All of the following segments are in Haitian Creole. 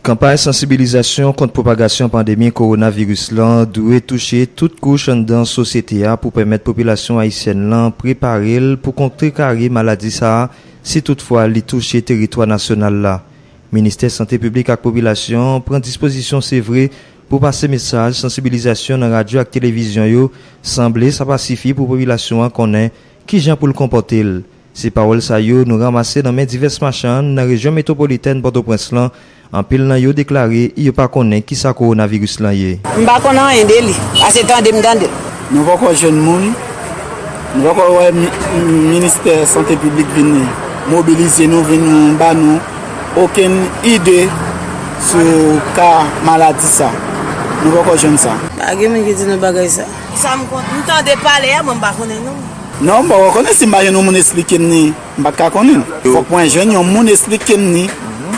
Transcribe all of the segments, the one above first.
Kanpay sansibilizasyon kont pwopagasyon pandemi kowonaviris lan dwe touche tout kouch anndan sosyete a pou pèmèt popilasyon ayisyèn lan prepare l pou kontrekare maladi sa a si tout fwa li touche teritwa nasyonal la. Ministè Sante Piblik ak Popilasyon pran dispozisyon se vre pou pase mesaj sansibilizasyon nan radyo ak televizyon yo, sanble sa pa sifi pou popilasyon an konnen kijan pou l konpòte l Se pawòl sa yo nou ranmase nan men divès machann nan rejyon metwopolitèn Pòtoprens lan, anpil nan yo deklare yo pa konnen ki sa kowonaviris lan ye. M pa konn anyen de li, ase tande m tande l. Nou poko jwenn moun, nou poko wè ministè sante piblik vin mobilize nou, vin ba nou okenn ide sou ka maladi sa. Nou poko jwenn sa. Pa gen moun ki di nou bagay sa. Ki sa m konn? M tande pale a, bon m pa konnen non. Non m poko konnen si m pa jwenn yon moun esplike m ni m pat ka konnen l. Fòk mwen jwenn yon moun esplike m ni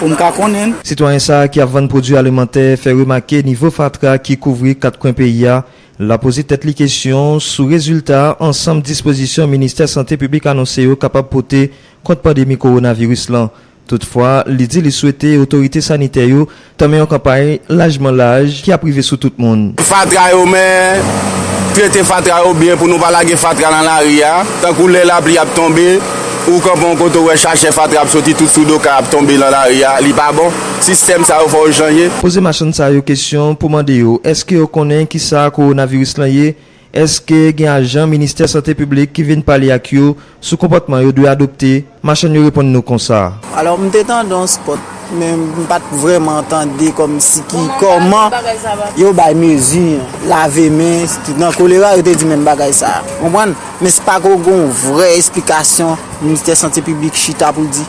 pou m ka konnen l. Sitwayen sa ki ap vann pwodwi alimantè fè remake nivo fatra ki kouvri 4 kwen peyi a. L ap poze tèt li kesyon sou rezilta ansanm dispozisyon Ministè Sante Piblik anonse yo kapab pote kont pandemi kowonaviris lan. Toutfwa, li di li swete otorite sanitè yo tanmen yon kanpay lajman laj ki ap rive sou tout moun. Fatra yo men, trete fatra yo byen pou nou pa lage fatra nan lari a, tankou lè lapli ap tonbe, ou kanpe yon kote ou wè chachè fatra ap soti tout sou do kay ap tonbe nan lari a, li pa bon, sistèm sa yo fò yo chanje. Poze machann sa yo kesyon pou mande yo èske yo konnen kisa kowonaviris lan ye, Èske gen ajan Ministè Sante Piblik ki vin pale ak yo sou konpòtman yo dwe adopte? Machann yo reponn nou konsa. Alò m te tande yon spot men m pa t vrèman tande kòmsi ki kòman yo bay mezi lave men nan kolera yo te di menm bagay sa a. Konprann? Men se pako gen yon vrè esplikasyon Ministè Sante Piblik chita pou l di.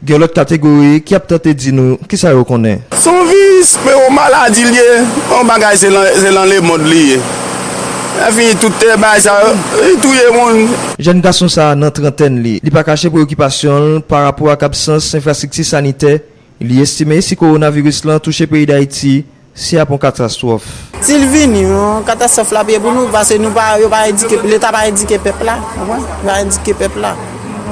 Gen lòt kategori ki ap tante di nou kisa yo konnen. Son viys men yon maladi l ye yon bagay se lan se lan lemond li ye enfini tout te bagay sa yo li touye moun. Jèn gason sa a nan trantèn li, li pa kache preyokipasyon l pa rapò ak absans enfrastrikti sanitè, li estime si kowonaviris lan touche peyi Dayiti Si ap yon katastwòf. Si l vini yon katastwòf l ap ye pou nou pase nou pa yo pa endike leta pa endike pèp la ou konprann yo pa endike pèp la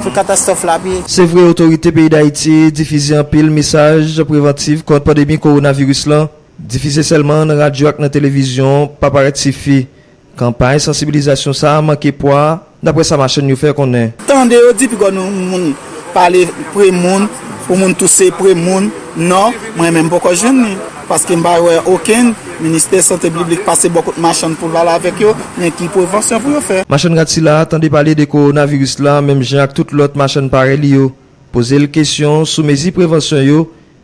sou katastwòf l ap ye. Se vre otorite peyi Dayiti difize anpil mesaj prevantiv kont pandemi kowonaviris lan, difize sèlman nan radyo ak nan televizyon pa parèt sifi. Kanpay sansibilizasyon sa a manke pwa, daprè sa machann yo fè konnen. Tande yo di pigaw nou moun pale pre moun pou moun touse pre moun non mwen menm poko jwenn li paske mpa wè okenn ministè sante bliblik pase bò kot machann poul pale avèk yo men ki prevansyon pou yo fè. Machann rad sila a tande pale de kowonaviris la menm jan ak tout lòt machann parèy li yo, pozel kesyon sou mezi prevansyon yo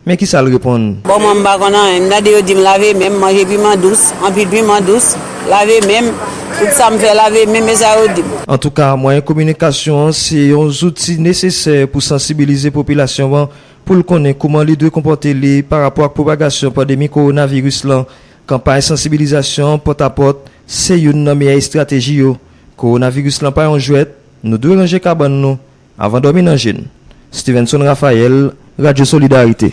Men kisa l reponn. Bon mwen m pa konn anyen. M tande yo di m lave men m, manje piman dous, anpil piman dous, lave men m, tout sa m fè lave men m, e sa yo di m. Antouka, mwayen kominikasyon an se yon zouti nesesè pou sansibilize popilasyon an pou l konnen kouman li dwe konpòte li parapò ak pwopagasyon pandemi kowonaviris lan. Kanpay sansibilizasyon pòtapòt se youn nan meyè estrateji yo. Kowonaviris lan pa yon jwèt, nou dwe ranje kabann nou. Avan dòmi nan je n. Stevenson Raphaël, Radyo Solidarite.